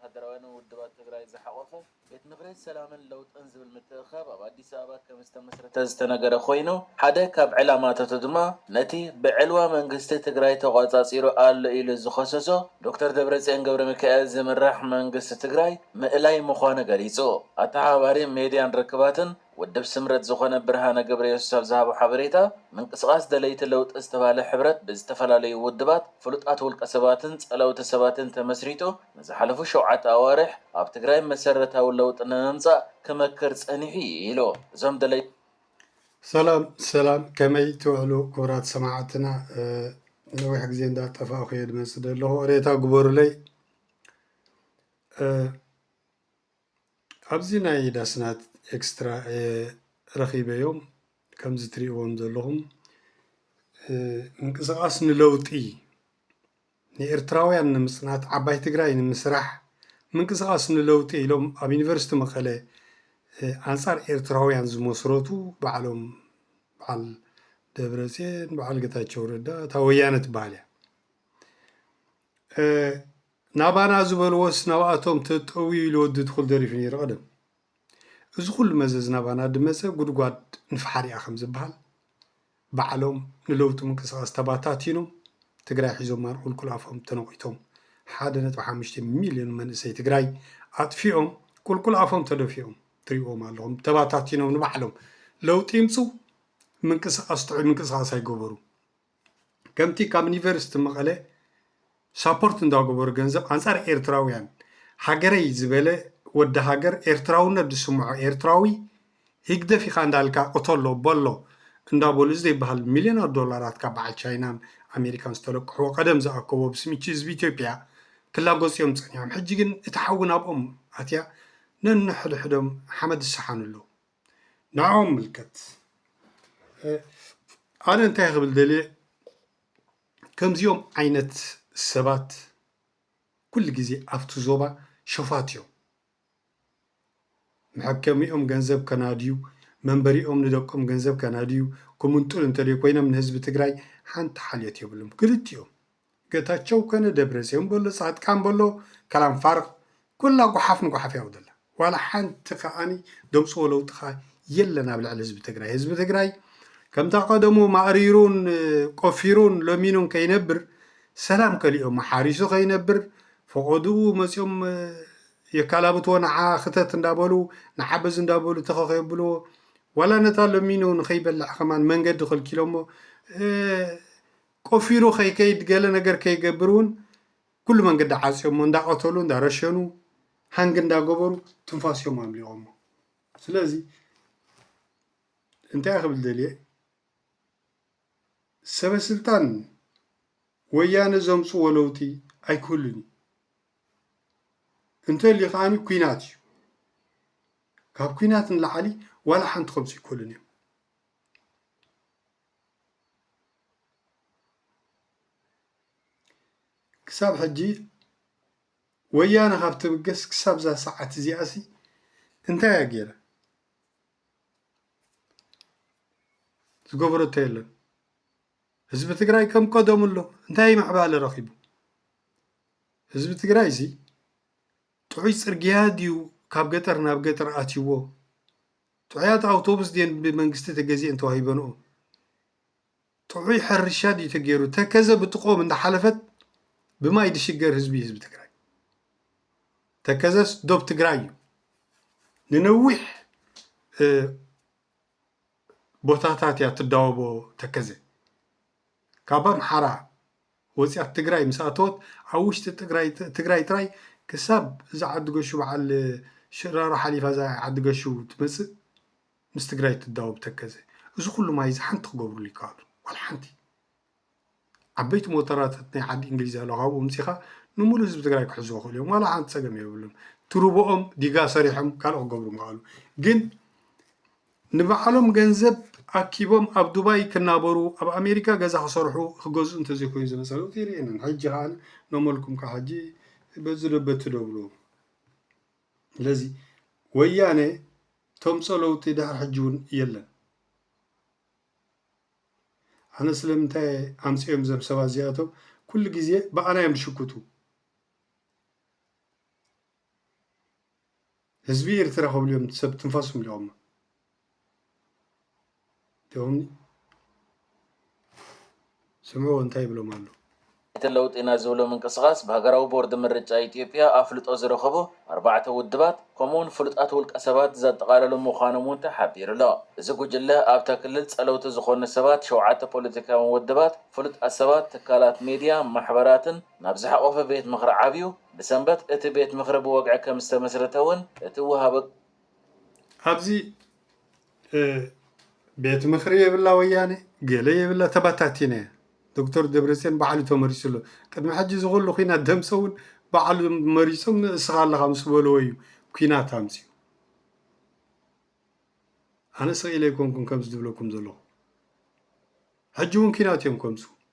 ወተሃደራውያንን ውድባት ትግራይ ዝሓቖፈ ቤት ምኽሪ ሰላምን ለውጥን ዝብል ምትእኽኻብ ኣብ ኣዲስ ኣበባ ከምዝተመስረተ ዝተነገረ ኮይኑ፣ ሓደ ካብ ዕላማታቱ ድማ ነቲ ብዕልዋ መንግስቲ ትግራይ ተቖፃፂሩ ኣሎ ኢሉ ዝኸሰሶ ዶክተር ደብረፅዮን ገብረሚካኤል ዝምራሕ መንግስቲ ትግራይ ምእላይ ምዃኑ ገሊፁ። ኣተሓባባሪ ሚድያን ርክባትን ውድብ ስምረት ዝኾነ ብርሃነ ገብረየሱስ ኣብ ዝሃቦ ሓበሬታ፣ ምንቅስቓስ ደለይቲ ለውጢ ዝተባህለ ሕብረት ብዝተፈላለዩ ውድባት፣ ፍሉጣት ውልቀ ሰባትን ጸለውቲ ሰባትን ተመስሪቱ ንዝሓለፉ ሸውዓተ ኣዋርሕ ኣብ ትግራይ መሰረታዊ ለውጢ ንምምጻእ ክመክር ጸኒሑ ኢዩ ኢሉ። እዞም ደለይቲ። ሰላም ሰላም ከመይ ትውዕሉ ክብራት ሰማዓትና ነዊሕ ግዜ እንዳ ጠፋእኩ እየ ድመጽእ ደለኹ ሬታ ግበሩለይ። ኣብዚ ናይ ዳስናት ኤክስትራ እየ ረኺበዮም ከምዚ ትሪእዎም ዘለኹም ምንቅስቃስ ንለውጢ ንኤርትራውያን ንምጽናት ዓባይ ትግራይ ንምስራሕ ምንቅስቃስ ንለውጢ ኢሎም ኣብ ዩኒቨርስቲ መቐለ ኣንጻር ኤርትራውያን ዝመስረቱ ባዕሎም በዓል ደብረጽዮን በዓል ገታቸው ረዳ እታ ወያነ ትበሃል እያ ናባና ዝበልዎስ ናብኣቶም ተጠውዩ ኢሉ ወዲ ትኹል ደሪፉ ነይሩ ቀደም። እዚ ኩሉ መዘዝ ናባና ድመጸ ጉድጓድ ንፍሓር ኢያ ከም ዝብሃል ባዕሎም ንለውጢ ምንቅስቃስ ተባታቲኖም ትግራይ ሒዞማ ቁልቁል ኣፎም ተነቂቶም ሓደ ነጥቢ ሓሙሽተ ሚልዮን መንእሰይ ትግራይ ኣጥፊኦም ቁልቁል ኣፎም ተደፊኦም ትሪእዎም ኣለኹም ተባታቲኖም ንባዕሎም ለውጢ ይምጹ ምንቅስቃስ ጥዑይ ምንቅስቃስ ኣይገበሩ። ከምቲ ካብ ኒቨርስቲ መቐለ ሳፖርት እንዳገበሩ ገንዘብ ኣንጻር ኤርትራውያን ሃገረይ ዝበለ ወዲ ሃገር ኤርትራውነት ዝስምዖ ኤርትራዊ ሂግደፍ ኢኻ እንዳልካ ቅተሎ በሎ እንዳበሉ እዚ ዘይበሃል ሚልዮናት ዶላራት ካብ በዓል ቻይናን ኣሜሪካን ዝተለቅሕዎ ቀደም ዝኣከቦ ብስም እቺ ህዝቢ ኢትዮጵያ ክላጎጽ እዮም ጸኒሖም ሕጂ ግን እቲ ሓዊ ናብኦም ኣትያ ነንሕድሕዶም ሓመድ ዝሰሓኑ ኣለዉ። ንዕኦም ምልከት ኣነ እንታይ ክብል ደልየ ከምዚኦም ዓይነት ሰባት ኩሉ ግዜ ኣብቲ ዞባ ሸፋት እዮም። መሐከሚኦም ገንዘብ ከናድዩ፣ መንበሪኦም ንደቆም ገንዘብ ከናድዩ፣ ክምንጥሉ እንተዘይኮይኖም ንህዝቢ ትግራይ ሓንቲ ሓልዮት የብሎምን ክልቲኦም። ገታቸው ከነ ደብረጼዮን በሎ ጻድቃን በሎ ከላም ፋርቅ ኩላ ጉሓፍ ንጉሓፍ ያው ዘላ ዋላ ሓንቲ ከኣኒ ደምጽዎ ለውጢ ከኣ የለን ኣብ ልዕሊ ህዝቢ ትግራይ ህዝቢ ትግራይ ከምታ ቀደሙ ማእሪሩን ቆፊሩን ለሚኑን ከይነብር ሰላም ከሊኦም ሓሪሱ ከይነብር ፈቆድኡ መጺኦም የካላብትዎ ንዓ ክተት እንዳበሉ ንዓ በዚ እንዳበሉ ተኸ ከየብልዎ ዋላ ነታ ለሚኑ ንኸይበልዕ ከማን መንገዲ ከልኪሎሞ ቆፊሩ ከይከይድ ገለ ነገር ከይገብር እውን ኩሉ መንገዲ ዓፅዮሞ እንዳቀተሉ እንዳረሸኑ ሃንግ እንዳገበሩ ትንፋስ እዮም ኣምሊቆሞ ስለዚ እንታይ ክብል ደልየ ሰበስልጣን ወያነ ዘምፅዎ ለውጢ ኣይክህሉን እዩ እንተልዩ ከዓኒ ኩናት እዩ ካብ ኩናት ንላዕሊ ዋላ ሓንቲ ከምፅኡ ኣይክእሉን እዮም ክሳብ ሕጂ ወያነ ካብ ትብገስ ክሳብ እዛ ሰዓት እዚኣ ሲ እንታይ እያ ገይራ? ዝገበረቶ የለን። ህዝቢ ትግራይ ከም ቀደሙ ኣሎ። እንታይ ምዕባለ ረኺቡ? ህዝቢ ትግራይ እዚ ጥዑይ ፅርግያ ድዩ ካብ ገጠር ናብ ገጠር ኣትይዎ ጥዑያት ኣውቶቡስ ድየን ብመንግስቲ ተገዚኤን ተዋሂበንኦ? ጥዑይ ሕርሻ ድዩ ተገይሩ? ተከዘ ብጥቅኦም እንዳሓለፈት ብማይ ድሽገር ህዝቢ እዩ ህዝቢ ትግራይ። ተከዘስ ዶብ ትግራይ እዩ። ንነዊሕ ቦታታት እያ ትዳወቦ ተከዘ ካብ ኣምሓራ ወፂኣ ትግራይ ምስ ኣተወት ኣብ ውሽጢ ትግራይ ጥራይ ክሳብ እዛ ዓዲ ገሹ በዓል ሽራሮ ሓሊፋ እዛ ዓዲ ገሹ ትመፅእ ምስ ትግራይ ትዳወብ ተከዘ እዚ ኩሉ ማይ እዚ ሓንቲ ክገብርሉ ይከኣሉ ዋላ ሓንቲ ዓበይቲ ሞተራታት ናይ ዓዲ እንግሊዝ ኣሎ ካብኡ ምፂኻ ንሙሉ ህዝቢ ትግራይ ክሕዝዎ ክእሉ እዮም ዋላ ሓንቲ ፀገም የብሉም ትርቦኦም ዲጋ ሰሪሖም ካልእ ክገብሩ ምኸኣሉ ግን ንባዕሎም ገንዘብ ኣኪቦም ኣብ ዱባይ ክናበሩ ኣብ ኣሜሪካ ገዛ ክሰርሑ ክገዝኡ እንተዘይኮይኑ ዝመጸሉ ጊር የለን ሕጂ ከኣ ኖመልኩም ከኣ ሕጂ በዚ ዶ በቲ ዶ ብሉ ስለዚ ወያነ ተምጾ ለውጢ ድሕር ሕጂ እውን የለን ኣነ ስለምንታይ ኣምጽኦም ዘም ሰባት እዚኣቶም ኩሉ ግዜ ብኣና እዮም ዝሽኩቱ ህዝቢ ኤርትራ ክብሉ እዮም ሰብ ትንፋሶም ሊኦማ እቶም ስምዑዎ እንታይ ይብሎም ኣሎ እቲ ለውጢና ዝብሎ ምንቅስቓስ ብሃገራዊ ቦርዲ ምርጫ ኢትዮጵያ ኣፍልጦ ዝረኸቡ ኣርባዕተ ውድባት ከምኡ'ውን ፍሉጣት ውልቀሰባት ዘጠቓለሉ ምዃኖም'ውን ተሓቢሩ'ሎ። እዚ ጉጅለ ኣብታ ክልል ጸለውቲ ዝኾኑ ሰባት ሸውዓተ ፖለቲካውያን ውድባት፣ ፍሉጣት ሰባት፣ ትካላት ሜድያ፣ ማሕበራትን ናብ ዝሓቖፈ ቤት ምኽሪ ዓብዩ ብሰንበት እቲ ቤት ምኽሪ ብወግዒ ከም ዝተመስረተ እውን እቲ ወሃቢ ኣብዚ ቤት ምኽሪ የብላ ወያነ ገለ የብላ ተባታቲና እያ ዶክተር ደብረፅዮን ባዕሉ ተመሪፁ ኣሎ ቅድሚ ሕጂ እዚ ኩሉ ኩናት ደምሰ እውን ባዕሉ መሪፆም ንእስኻ ኣለኻ ምስ በልዎ እዩ ኩናት ኣምፅኡ ኣነ ስቕ ኢለ ኣይኮንኩን ከምዚ ዝብለኩም ዘለኹ ሕጂ እውን ኩናት እዮም ከምፅኡ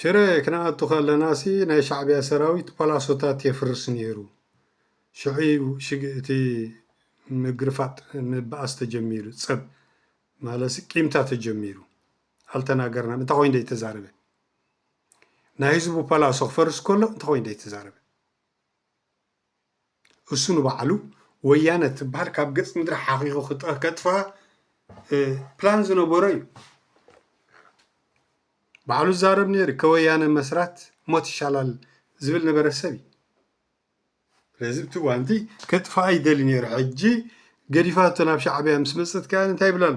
ሽረ ክንኣቱ ከለናሲ ናይ ሻዕቢያ ሰራዊት ፓላሶታት የፍርስ ነይሩ ሽዑ'ዩ እቲ ምግርፋጥ ምብኣስ ተጀሚሩ ጸብ ማለትሲ ቂምታ ተጀሚሩ ኣልተናገርናን እንታይ ኮይኑ ዘይተዛረበ ናይ ህዝቡ ፓላሶ ክፈርስ ከሎ እንታይ ኮይኑ ዘይተዛረበ እሱ ንባዕሉ ወያነ እትብሃል ካብ ገፅ ምድሪ ሓኺኹ ከጥፍኣ ፕላን ዝነበሮ እዩ። ባዕሉ ዝዛረብ ነይሩ ከወያነ መስራት ሞት ይሻላል ዝብል ነበረ ሰብ እዩ ስለዚ እቲ ጓንቲ ከጥፋኣ ይደሊ ነይሩ ሕጂ ገዲፋቶ ናብ ሻዕብያ ምስ መፀት ከ እንታይ ይብል ኣሎ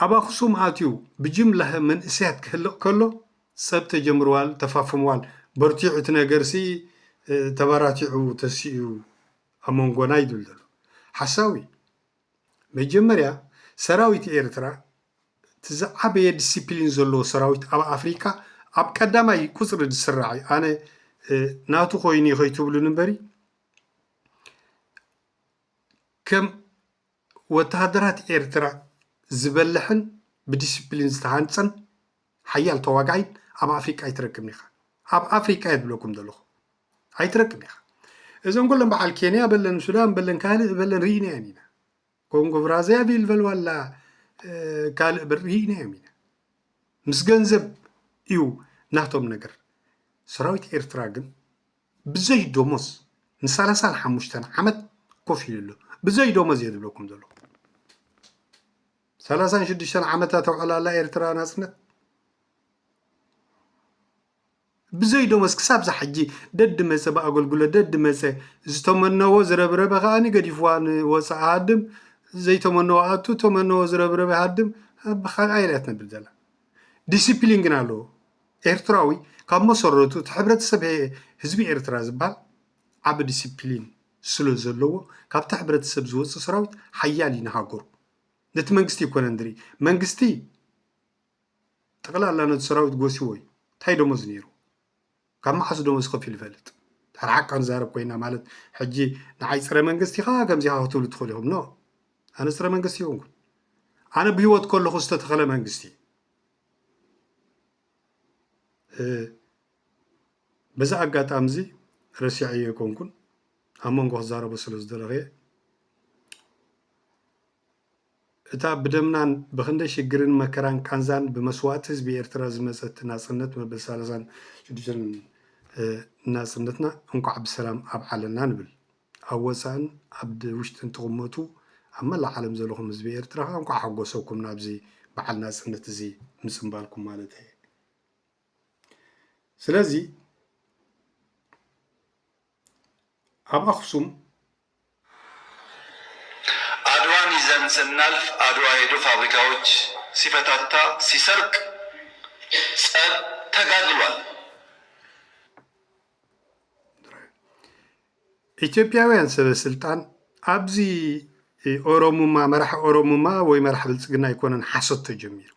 ኣብ ኣኹሱም ኣትዩ ብጅምላሀ መንእሰያት ክህልቅ ከሎ ጸብ ተጀምርዋል ተፋፍምዋል በርቲዑ እቲ ነገርሲ ተባራቲዑ ተሲኡ ኣብ መንጎና ይብል ዘሎ ሓሳዊ መጀመርያ ሰራዊት ኤርትራ እቲ ዝዓበየ ድስፕሊን ዘለዎ ሰራዊት ኣብ ኣፍሪቃ ኣብ ቀዳማይ ቁጽሪ ዝስራዕ እዩ ኣነ ናቱ ኮይኑ ከይትብሉኒ እምበሪ ከም ወተሃደራት ኤርትራ ዝበልሕን ብዲሲፕሊን ዝተሃንጸን ሓያል ተዋጋኣይን ኣብ ኣፍሪቃ ኣይትረክብን ኢኻ ኣብ ኣፍሪቃ እየ ዝብለኩም ዘለኹ ኣይትረክብን ኢኻ እዘን ኩለን በዓል ኬንያ በለን ሱዳን በለን ካልእ በለን ርኢናየን ኢና ኮንጎ ብራዛቪል በልዋላ ካልእ በር ርኢናዮም ኢና ምስ ገንዘብ እዩ ናቶም ነገር ሰራዊት ኤርትራ ግን ብዘይ ደሞዝ ንሳላሳን ሓሙሽተን ዓመት ኮፍ ኢሉ ኣሎ ብዘይ ደሞዝ እየ ዝብለኩም ዘለኹ ሰላሳን ሽዱሽተን ዓመታ ተውዕላላ ኤርትራ ናፅነት ብዘይ ደሞዝ ክሳብ ዝሓጂ ደዲ መፀ ብኣገልግሎት ደዲ መፀ ዝተመነዎ ዝረብረበ ከዓኒ ገዲፍዋ ንወፃእ ሃድም ዘይተመነዎ ኣቱ ተመነዎ ዝረብረበ ሃድም ብካልኣይ ኢላ ትነብር ዘላ ዲስፕሊን ግን ኣለዎ ኤርትራዊ ካብ መሰረቱ እቲ ሕብረተሰብ ህዝቢ ኤርትራ ዝባሃል ዓቢ ዲሲፕሊን ስለ ዘለዎ ካብቲ ሕብረተሰብ ዝወጽእ ሰራዊት ሓያል እዩ ንሃገሩ ነቲ መንግስቲ ይኮነን ዝርኢ መንግስቲ ጠቕላላ ነቲ ሰራዊት ጎሲዎ እዩ እንታይ ደሞዝ ነይሩ ካብ መዓስ ደሞዝ ከፊሉ ይፈልጥ ድሕር ሓቃ ንዛረብ ኮይና ማለት ሕጂ ንዓይ ፀረ መንግስቲ ኢኻ ከምዚኻ ክትብሉ ትኽእሉ ኢኹም ኖ ኣነ ፀረ መንግስቲ ይኹንኩን ኣነ ብሂወት ከለኹ ዝተተኸለ መንግስቲ በዚ ኣጋጣሚ እዚ ረሲዐዮ ኣይኮንኩን ኣብ መንጎ ክዛረቦ ስለ ዝደለኹየ እታ ብደምናን ብክንደይ ሽግርን መከራን ቃንዛን ብመስዋእቲ ህዝቢ ኤርትራ ዝመፀት ናፅነት መበል ሰላሳን ሽዱሽተን ናፅነትና እንኳዕ ብሰላም ኣብዓለና ንብል ኣብ ወጻእን ኣብ ውሽጥን ትቕመጡ ኣብ መላእ ዓለም ዘለኹም ህዝቢ ኤርትራ ከኣ እንቋዕ ሓጎሰኩም ናብዚ በዓል ናጽነት እዚ ምጽንባልኩም ማለተይ እየ። ስለዚ ኣብ ኣኽሱም አድዋ ሚዛን ስናልፍ አድዋ ሄዶ ፋብሪካዎች ሲፈታታ ሲሰርቅ ጸብ ተጋድሏል። ኢትዮጵያውያን ሰበስልጣን ኣብዚ ኦሮሙማ መራሒ ኦሮሙማ ወይ መራሒ ብልጽግና ኣይኮነን ሓሶት ተጀሚሩ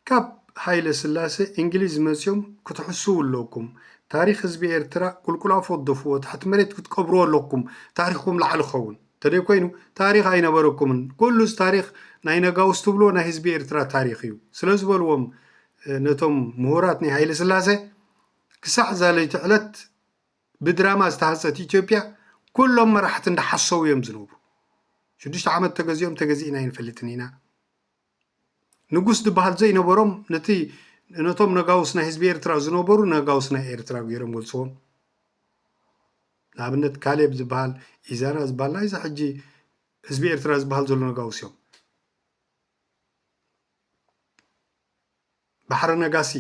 ካብ ሃይለ ስላሰ እንግሊዝ መጽዮም ክትሕስው ኣለኩም ታሪክ ህዝቢ ኤርትራ ቁልቁል ኣፎደፍዎ ትሕቲ መሬት ክትቀብርዎ ኣለኩም ታሪክኩም ላዕሊ ክኸውን እንተደይ ኮይኑ ታሪክ ኣይነበረኩምን ኩሉ እዚ ታሪክ ናይ ነጋውስ ትብልዎ ናይ ህዝቢ ኤርትራ ታሪክ እዩ ስለዝበልዎም ነቶም ምሁራት ናይ ሃይለ ስላሰ ክሳዕ እዛ ለይቲ ዕለት ብድራማ ዝተሃንጸት ኢትዮጵያ ኩሎም መራሕቲ እንዳሓሰዉ እዮም ዝነብሩ ሽዱሽተ ዓመት ተገዚኦም ተገዚእና ኣይንፈልጥን ኢና ንጉስ ዝበሃል ዘይነበሮም ነቲ ነቶም ነጋውስ ናይ ህዝቢ ኤርትራ ዝነበሩ ነጋውስ ናይ ኤርትራ ገይሮም ገልፅዎም ንኣብነት ካሌብ ዝበሃል ኢዛና ዝበሃል ናይዚ ሕጂ ህዝቢ ኤርትራ ዝበሃል ዘሎ ነጋውስ እዮም ባሕረ ነጋሲ፣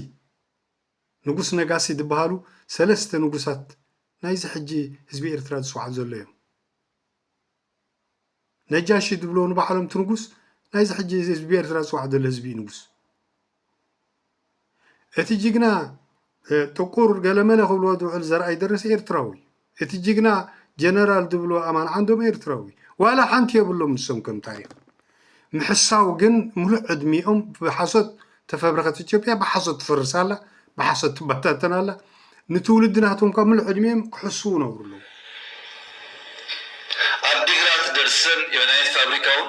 ንጉስ ነጋሲ ዝበሃሉ ሰለስተ ንጉሳት ናይዚ ሕጂ ህዝቢ ኤርትራ ዝጽውዓሉ ዘሎ እዮም። ነጃሺ ዝብልዎ ንባዕሎም እቲ ንጉስ ናይዚ ሕጂ ህዝቢ ኤርትራ ዝጽዋዕ ዘሎ ህዝቢ እዩ ንጉስ። እቲ ጅግና ጥቁር ገለመለ ክብልዎ ዝውዕል ዘርኣይ ደረሰ ኤርትራዊ እቲ ጅግና ጀነራል ዝብልዎ ኣማን ዓንዶም ኤርትራዊ ዋላ ሓንቲ የብሎም ንሶም ከም ታሪኽ ምሕሳው ግን ምሉእ ዕድሚኦም ብሓሶት ተፈብረኸት ኢትዮጵያ ብሓሶት ትፈርስ ኣላ ብሓሶት ትበታተን ኣላ ንትውልዲ ናቶም እኳ ምሉእ ዕድሚኦም ክሕስው ነብሩ ኣለዉ አዲግራት ደርሰን የመድኃኒት ፋብሪካውን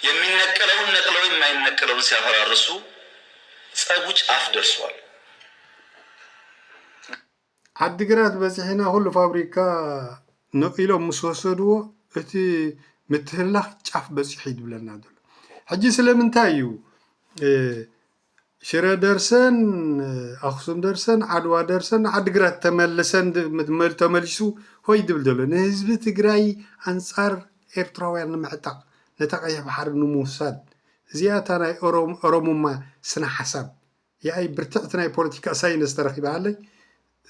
የሚነቀለውን ነቅለው የማይነቀለውን ሲያፈራርሱ ጸጉ ጫፍ ደርሷል። ዓዲግራት በፂሕና ኩሉ ፋብሪካ ነው ኢሎም ምስ ወሰድዎ እቲ ምትህልላኽ ጫፍ በፂሑ እዩ ዝብለና ዘሎ። ሕጂ ስለምንታይ እዩ ሽረ ደርሰን ኣኽሱም ደርሰን ዓድዋ ደርሰን ዓዲግራት ተመልሰን ተመሊሱ ሆይ ዝብል ዘሎ ንህዝቢ ትግራይ ኣንፃር ኤርትራውያን ንምዕጣቕ ነታ ቀይሕ ባሕሪ ንምውሳድ እዚኣ እታ ናይ ኦሮሙማ ስነ ሓሳብ ያኢ ብርትዕቲ ናይ ፖለቲካ ሳይነስ ተረኪባሃለይ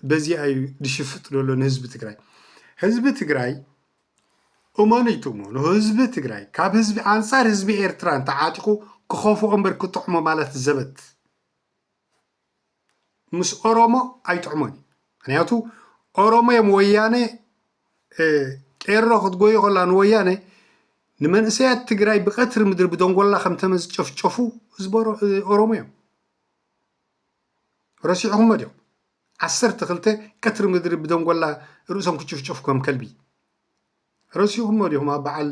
በዚኣ እዩ ድሽፍጥ ዘሎ ንህዝቢ ትግራይ ህዝቢ ትግራይ እመኑ ትእመኑ ህዝቢ ትግራይ ካብ ህዝቢ ኣንፃር ህዝቢ ኤርትራ እንተዓጢቑ ክኸፍኦ እምበር ክጥዕሞ ማለት ዘበት ምስ ኦሮሞ ኣይጥዕሞን እዩ ምክንያቱ ኦሮሞ እዮም ወያነ ቄሮ ክትጎይ ከላ ንወያነ ንመንእሰያት ትግራይ ብቀትሪ ምድሪ ብደንጎላ ከምተመ ዝጨፍጨፉ ህዝቢ ኦሮሞ እዮም ረሲዕኹሞ ድዮም ዓሰርተ ክልተ ቀትሪ ምድሪ ብደንጎላ ርእሶም ክጭፍጨፉ ከም ከልቢ ረሲኹሞ ዲኹም ኣብ በዓል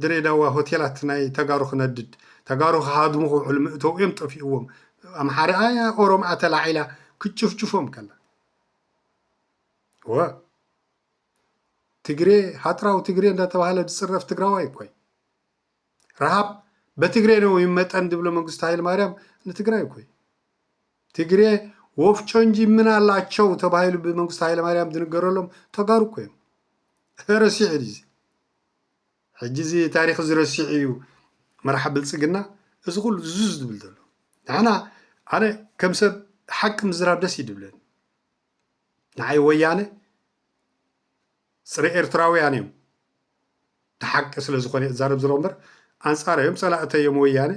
ድሬዳዋ ሆቴላት ናይ ተጋሩ ክነድድ ተጋሩ ክሃድሙ ክውዕሉ ምእተው እዮም ጠፊእዎም ኣምሓርያ ኦሮምኣ ተላዒላ ክጭፍጭፎም ከላ ወ ትግሬ ሃጥራዊ ትግሬ እንዳተባሃለ ዝፅረፍ ትግራዋይ እኮ እዩ ረሃብ በትግሬ ነው ይመጠን ዝብሎ መንግስቱ ኃይለማርያም ንትግራይ እኮ እዩ ትግሬ ወፍጮ እንጂ ምን ኣላቸው ተባሂሉ ብመንግስቱ ኃይለማርያም ዝንገረሎም ተጋሩ እኮ እዮም ረሲዑ እዩ ሕጂ እዚ ታሪክ ዝረሲዑ እዩ መርሓ ብልፅግና እዚ ኩሉ ዙዝ ዝብል ዘሎ ንሕና ኣነ ከም ሰብ ሓቂ ምዝራብ ደስ ይድብለኒ ንዓይ ወያነ ፅረ ኤርትራውያን እዮም እቲ ሓቂ ስለ ዝኾነ እየ እዛረብ ዝሎ እምበር ኣንፃር እዮም ፀላእተይ እዮም ወያነ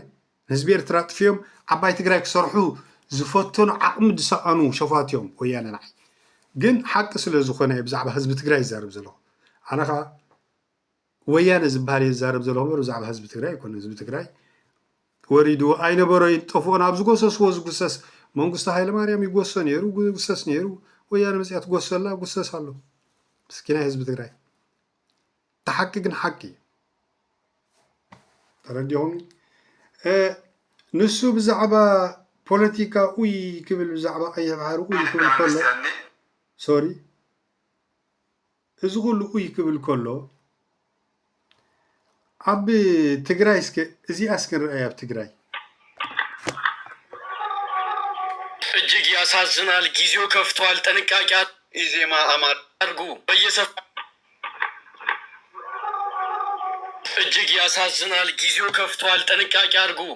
ንህዝቢ ኤርትራ ጥፍዮም ዓባይ ትግራይ ክሰርሑ ዝፈተኑ ዓቕሚ ዝሰኣኑ ሸፋት እዮም ወያነ ንዓይ ግን ሓቂ ስለ ዝኾነ እየ ብዛዕባ ህዝቢ ትግራይ ይዛረብ ዘለኹ ኣነ ከዓ ወያነ ዝብሃል እየ ዝዛረብ ዘለኹ እምበር ብዛዕባ ህዝቢ ትግራይ ኣይኮነን። ህዝቢ ትግራይ ወሪድዎ ኣይነበሮ ይጠፍኦን ኣብ ዝጎሰስዎ ዝጉሰስ መንግስቱ ሃይለማርያም ይጎሶ ነይሩ ጉሰስ ነይሩ ወያነ መፅያ ትጎሶ ኣላ ጉሰስ ኣሎ ምስኪናይ ህዝቢ ትግራይ እቲ ሓቂ ግን ሓቂ እዩ ተረዲኹም ንሱ ብዛዕባ ፖለቲካ ኡይ ክብል ብዛዕባ ቀይሕ ባሕሪ ኡይ ክብል ከሎ ሶሪ እዚ ኩሉ ኡይ ክብል ከሎ ኣብ ትግራይ እስከ እዚኣ እስከ ንርኣይ ኣብ ትግራይ እጅግ ያሳዝናል ጊዜው ከፍቷል ጥንቃቄ ኢዜማ አማራ አድርጉ በየሰፈሩ እጅግ ያሳዝናል ጊዜው ከፍቷል ጥንቃቄ አድርጉ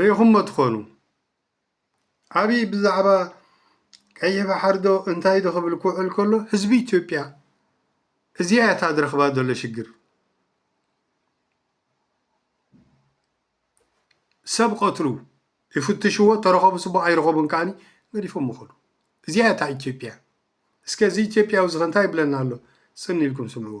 ርኢኹሞ ትኾኑ ኣብይ ብዛዕባ ቀይሕ ባሕሪ ዶ እንታይ ዶ ክብል ክውዕል ከሎ ህዝቢ ኢትዮጵያ እዚኣ እያ እታ ዝረኽባ ዘሎ ሽግር ሰብ ቀትሉ ይፍትሽዎ ተረኸቡ ፅቡቅ ኣይረኸቡን ከዓኒ ገዲፎም ይኸዱ እዚኣ እያ እታ ኢትዮጵያ እስከ እዚ ኢትዮጵያዊ እዚ እንታይ ይብለና ኣሎ ፅን ኢልኩም ስምዕዎ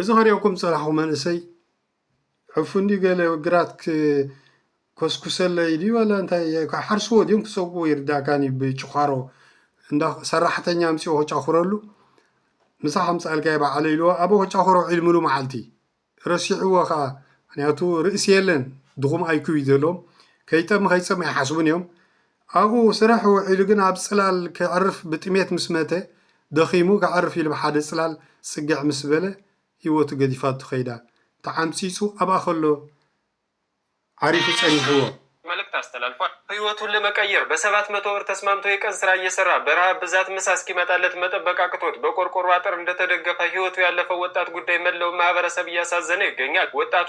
እዚ ከሪኦኩም ጸናሕኩ መንእሰይ ዕፉን ድዩ ገለ ግራት ኮስኩሰለይ ድዩ ወላ እንታይ ሓርስዎ ድዮም ክሰጉዎ ይርዳእካን እዩ ብጭዃሮ እንዳ ሰራሕተኛ ኣምፅኦ ከጫኹረሉ ምሳ ከምፃልካዮ በዓለ ኢልዎ ኣበ ከጫኹሮ ዒልምሉ መዓልቲ ረሲዕዎ ከዓ ምክንያቱ ርእሲ የለን ድኹም ኣይኩብ እዩ ዘለዎም ከይጠሚ ከይፀሚ ኣይሓስቡን እዮም ኣብኡ ስራሕ ውዒሉ ግን ኣብ ጽላል ከዕርፍ ብጥሜት ምስ መተ፣ ደኺሙ ከዕርፍ ኢሉ ብሓደ ጽላል ጽግዕ ምስ በለ፣ ህይወቱ ገዲፋቶ ከይዳ። ተዓምጺጹ ኣብኣ ከሎ ዓሪፉ ጸኒሕዎ። መልእክት ኣስተላልፏል። ህይወቱን ለመቀየር በሰባት መቶ ብር ተስማምቶ የቀን ስራ እየሰራ በረሃብ ብዛት ምሳ እስኪመጣለት መጠበቅ አቅቶት በቆርቆሮ አጥር እንደተደገፈ ህይወቱ ያለፈው ወጣት ጉዳይ መለውን ማህበረሰብ እያሳዘነው ይገኛል። ወጣቱ።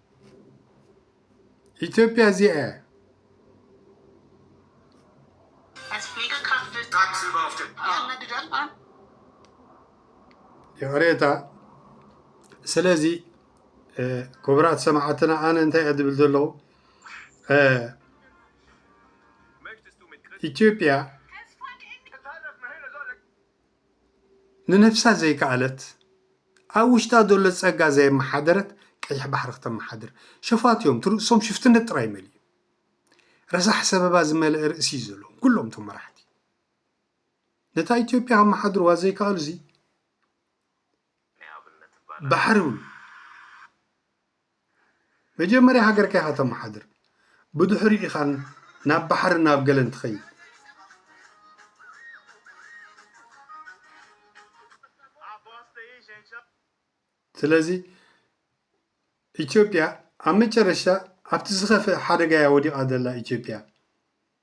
ኢትዮጵያ እዚኣ እያ። ይቕሬታ ስለዚ ክቡራት ሰማዕትና ኣነ እንታይ እየ ዝብል ዘለኹ ኢትዮጵያ ንነብሳ ዘይከኣለት ኣብ ውሽጣ ዘሎ ጸጋ ዘየመሓደረት ቀይሕ ባሕሪ ክተመሓድር ሸፋቱ እዮም ትርእሶም ሽፍትነት ጥራይ መሊኡ ረሳሕ ሰበባ ዝመልአ ርእሲ እዩ ዘለዎም ኩሎም እቶም መራሕቲ ነታ ኢትዮጵያ ከመሓድርዋ ዘይከኣሉ እዚ ባሕሪ መጀመርያ ሃገርካ ኢኻ ተማሓድር ብድሑሪ ኢኻ ናብ ባሕርን ናብ ገለን ትኸይድ። ስለዚ ኢትዮጵያ ኣብ መጨረሻ ኣብቲ ዝኸፍእ ሓደጋ እያ ወዲቓ ዘላ ኢትዮጵያ።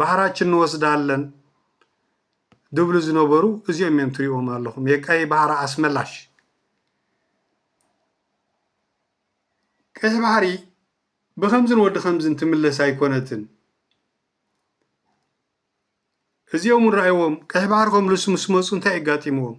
ባሕራችን ንወስዳለን ድብሉ ዝነበሩ እዚኦም እዮም ትሪእዎም ኣለኹም የቀይ ባሕሪ ኣስመላሽ ቀይሕ ባሕሪ ብከምዝን ወዲ ከምዝን ትምለስ ኣይኮነትን እዚኦም እውን ረኣይዎም ቀይሕ ባሕሪ ከምልሱ ምስ መፁ እንታይ ኣጋጢምዎም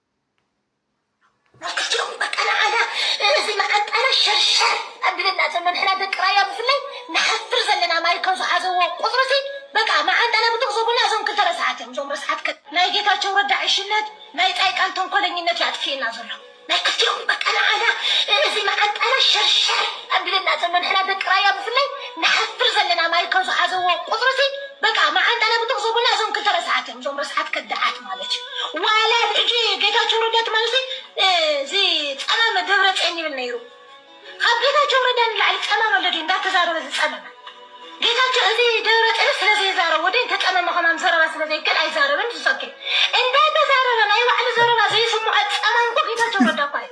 መከቲኦም በቃ ንዓና እዚ መዓንጣና ሸርሸር ኣብለና ዘሎ ንሕና ደቂ ራያ ብፍላይ ንሓፍር ዘለና ማይ ከም ዝሓዘዎ ቁጽሪ ሲ በቃ መዓንጣና ብጥቅ ዘቡልና እዞም ክልተ ረሳሓት እዮም እዞም ረሳሓት ከ ናይ ጌታቸው ረዳ ዕሽነት ናይ ጻይቃን ተንኮለኝነት እዩ ኣጥፊእና ዘሎ መከቲኦም በቃ ንዓና እዚ መዓንጣና ሸርሸር ኣብለና ዘሎ ንሕና ደቂ ራያ ብፍላይ ንሓፍር ዘለና ማይ ከም ዝሓዘዎ ቁጽሪ ሲ በቃ መዓንጣና ብጥቅ ዘቡልና እዞም ክልተ ረሳሓት እዮም እዞም ረስሓት ከዳዓት ማለት እዩ ዋላ ኣብ ሕጂ ጌታቸው ረዳ ትማልሲ እዚ ጸማመ ደብረጼን ይብል ነይሩ ካብ ጌታቸው ረዳ ንላዕሊ ጸማመ ኣሎ ድዩ እንዳተዛረበ ዝጸመመ ጌታቸው እዚ ደብረጼን ስለ ዘይዛረብ ወደ እንተጸመመ ከማም ዘረባ ስለ ዘይከል ኣይዛረብን ዝሰኪ እንዳተዛረበ ናይ ባዕሉ ዘረባ ዘይስምዖ ጸማም እኮ ጌታቸው ረዳ እኳ እዩ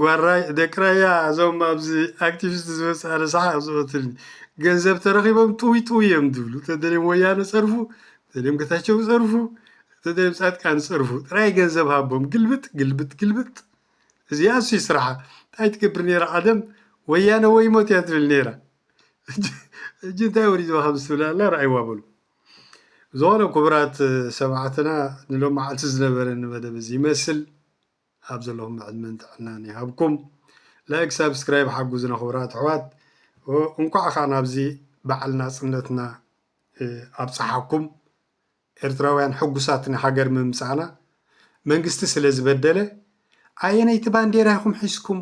ጓራይ ደቂ ራያ እዞም ኣብዚ ኣክቲቪስት ዝመጽእ ኣነ ሰሓቅ ዝቀትልኒ ገንዘብ ተረኪቦም ጥውይ ጥውይ እዮም ዝብሉ ተደልዮም ወያነ ጸርፉ ተደልዮም ገታቸው ጸርፉ ተደልዮም ጻድቃን ጸርፉ ጥራይ ገንዘብ ሃቦም ግልብጥ ግልብጥ ግልብጥ እዚኣስ እዩ ስራሓ እንታይ ትገብር ነይራ ቀደም ወያነ ወይ ሞት እያ ትብል ነይራ እጂ እንታይ ወሪድዋ ከም ዝትብል ኣላ ርኣይዋ በሉ ዝኾነ ክቡራት ሰማዕትና ንሎሚ መዓልቲ ዝነበረኒ መደብ እዚ ይመስል ኣብ ዘለኹሞ ዕድመን ጥዕናን ይሃብኩም። ላይክ ሳብስክራይብ ሓጉዙና ክቡራት ኣሕዋት። እንኳዕ ከኣ ናብዚ በዓል ናጽነትና ኣብጽሓኩም። ኤርትራውያን ሕጉሳት ንሃገር ምምጻእና መንግስቲ ስለ ዝበደለ ኣየነይቲ ባንዴራ ኢኹም ሒዝኩም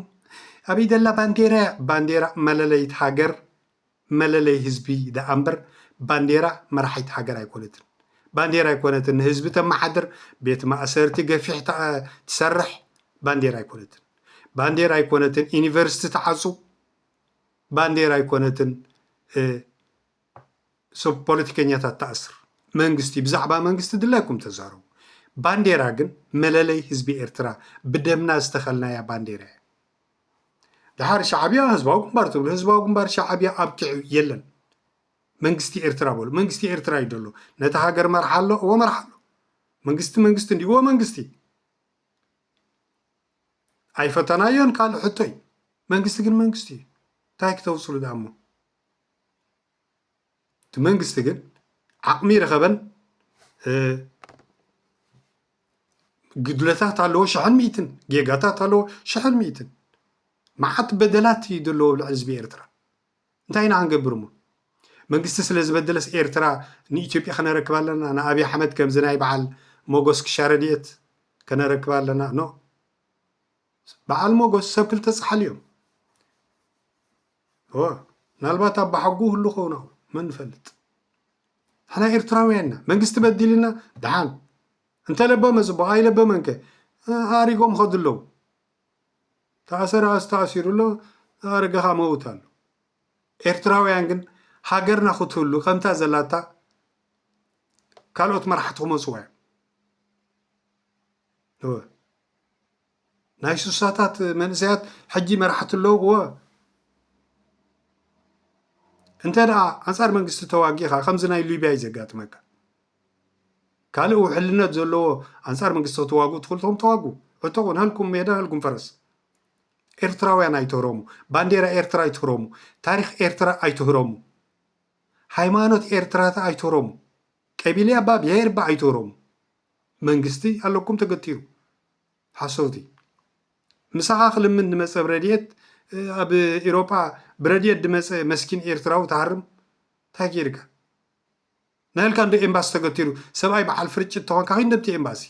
ኣበይ ደላ ባንዴራ እያ ባንዴራ መለለይት ሃገር መለለይ ህዝቢ ደኣ እምበር ባንዴራ መራሒት ሃገር ኣይኮነትን። ባንዴራ ኣይኮነትን ንህዝቢ ተመሓድር፣ ቤት ማእሰርቲ ገፊሕ ትሰርሕ ባንዴራ ኣይኮነትን። ባንዴራ ኣይኮነትን ዩኒቨርስቲ ትዓጹ፣ ባንዴራ ኣይኮነትን ሰብ ፖለቲከኛታት ትኣስር። መንግስቲ ብዛዕባ መንግስቲ ድላይኩም ተዛረቡ። ባንዴራ ግን መለለይ ህዝቢ ኤርትራ ብደምና ዝተኸልናያ ባንዴራ እያ። ደሓር ሻዕብያ ህዝባዊ ግንባር ትብሉ ህዝባዊ ግንባር ሻዕብያ ኣብቂዑ የለን መንግስቲ ኤርትራ በሉ መንግስቲ ኤርትራ እዩ ደሎ ነቲ ሃገር መርሓ ኣሎ እዎ መርሓ ኣሎ መንግስቲ መንግስቲ እንዲ እዎ መንግስቲ ኣይፈተናዮን ካልእ ሕቶ እዩ መንግስቲ ግን መንግስቲ እዩ እንታይ ክተውፅሉ ዳሞ እቲ መንግስቲ ግን ዓቕሚ ረኸበን ጉድለታት ኣለዎ ሸሕን ሚእትን ጌጋታት ኣለዎ ሸሕን ሚእትን መዓት በደላት እዩ ዘለዎ ኣብ ልዕሊ ህዝቢ ኤርትራ እንታይ ኢና ክንገብር እሞ መንግስቲ ስለ ዝበደለስ ኤርትራ ንኢትዮጵያ ከነረክብ ኣለና ንኣብይ ኣሕመድ ከምዚ ናይ በዓል ሞጎስ ክሻ ረድኤት ከነረክብ ኣለና ኖ በዓል ሞጎስ ሰብ ክልተ ፃሓል እዮም ምናልባት ኣባሓጎ ህሉ ከውን ኣው መን ንፈልጥ ሓና ኤርትራውያን ኢና መንግስቲ በዲልና ድሓን እንተለበመ ፅቡቅ ኣይለበመን ከ ኣሪጎም ከዱ ኣለዉ ተኣሰረ ኣስተኣሲሩ ኣሎ ኣረገኻ መውት ኣሎ ኤርትራውያን ግን ሃገርና ክትህሉ ከምታ ዘላታ ካልኦት መራሕቲ ክመፅዋ እዮም ናይ ሱሳታት መንእሰያት ሕጂ መራሕቲ ኣለውዎ እንተ ደኣ ኣንጻር መንግስቲ ተዋጊኻ ከምዚ ናይ ሊብያ እዩ ዘጋጥመካ ካልእ ውሕልነት ዘለዎ ኣንጻር መንግስቲ ክትዋግኡ ትኽእሉ ትኹም ተዋጉ ዕጡቑ ናልኩም ሜዳ ናልኩም ፈረስ ኤርትራውያን ኣይትህረሙ ባንዴራ ኤርትራ ኣይትህረሙ ታሪክ ኤርትራ ኣይትህረሙ ሃይማኖት ኤርትራታ ኣይትህረሙ ቀቢልያ ባ ብሄር ባ ኣይትህረሙ መንግስቲ ኣለኩም ተገቲሩ ሓሰውቲ ምሳኻ ክልምን ድመጸ ብረድኤት ኣብ ኤሮጳ ብረድኤት ድመጸ መስኪን ኤርትራዊ ትሃርም እንታይ ገይርካ ናይልካ እንዶ ኤምባሲ ተገቲሩ ሰብኣይ በዓል ፍርጭት ተኾንካ ኪድ ነብቲ ኤምባሲ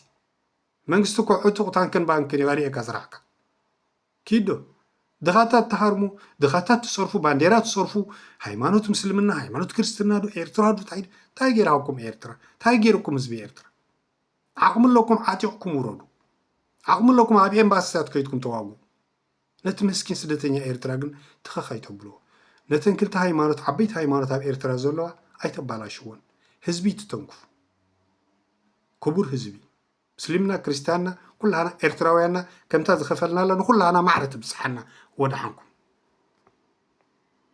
መንግስቲ እኮ ዕጡቕ ታንክን ባንክን እዩ ኣርእየካ ስራሕካ ኪዶ ድኻታት ትሃርሙ ድኻታት ትፀርፉ ባንዴራ ትፀርፉ ሃይማኖት ምስልምና ሃይማኖት ክርስትና ዶ ኤርትራ ዶ እንታይ ጌራኩም ኤርትራ እንታይ ጌርኩም ህዝቢ ኤርትራ ዓቕሚ ኣለኩም ዓጢቕኩም ውረዱ ዓቕሚ ኣለኩም ኣብ ኤምባሲታት ከይትኩም ተዋግኡ ነቲ መስኪን ስደተኛ ኤርትራ ግን ትኸኽ ኣይተብልዎ ነተን ክልተ ሃይማኖት ዓበይቲ ሃይማኖት ኣብ ኤርትራ ዘለዋ ኣይተባላሽዎን ህዝቢ ትተንክፉ ክቡር ህዝቢ ምስልምና ክርስትያንና ኩላና ኤርትራውያንና ከምታ ዝኸፈልናላ ንኩላና ማዕረ ትብፅሓና ወድሓንኩም